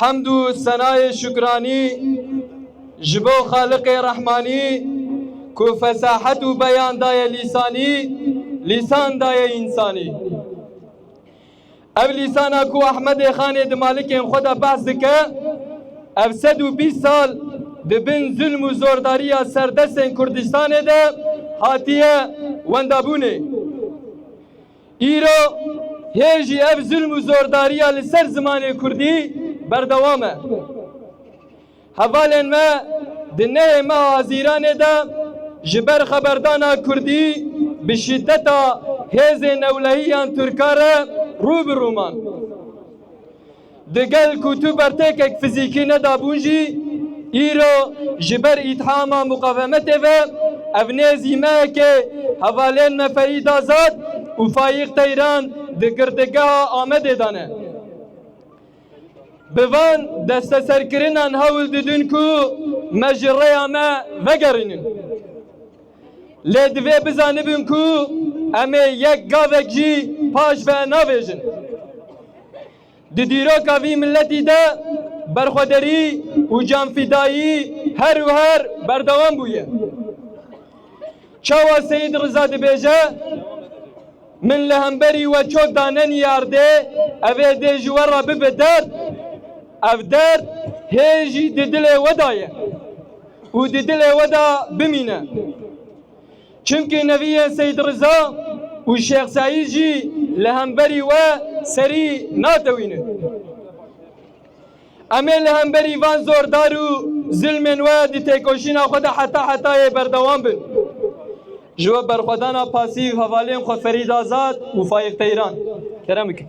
Hemd û senayê şukranî ji bo Xaliqê Rehmanî ku fesahet û beyan daye lîsanî, lîsan daye însanî. Ev lîsana ku Ehmedê Xanê di malikên xwe de behs dike, ev sed û bîst sal di bin zulm û zordariya serdestên Kurdistanê de hatiye wendabûnê. Îro hê jî ev zilm û zordariya li ser zimanê kurdî berdewam e. Hevalên me di neyê meha Hezîranê de ji ber xeberdana kurdî bi şîdeta hêzên newlehî yan Tirkan re rû bi rû man. Digel ku tu bertêkek fizîkî nedabûn jî, îro ji ber îthama muqavemetê ve ev nê zîmeyekê hevalên me Feîd Azad û Fayîq Teyran di girtîgeha Amedê de ne. Bi van desteserkirinan hewl didin ku me ji rêya me vegerînin. Lê divê bizanibin ku em ê yek gavek jî paş ve navêjin. Di dîroka vî miletî de berxwederî û canfîdayî her û her berdewam bûye. Çawa Seyîd Riza dibêje? Min li hemberî we çok danenî erdê, ev ê dê ji we re bibe derd. Ev derd hê jî di dilê we de ye û di dilê we de bimîne. Çimkî neviyên Seyîd Riza û Şêx Seîd jî li hemberî we serî natewînin. Em ê li hemberî van zordar û zilmên we di têkoşîna xwe de heta hetayê berdewam bin. Ji we berxwedana pasîv hevalên xwe Ferîd Azad û Faîq Teyran. Kerem bikin.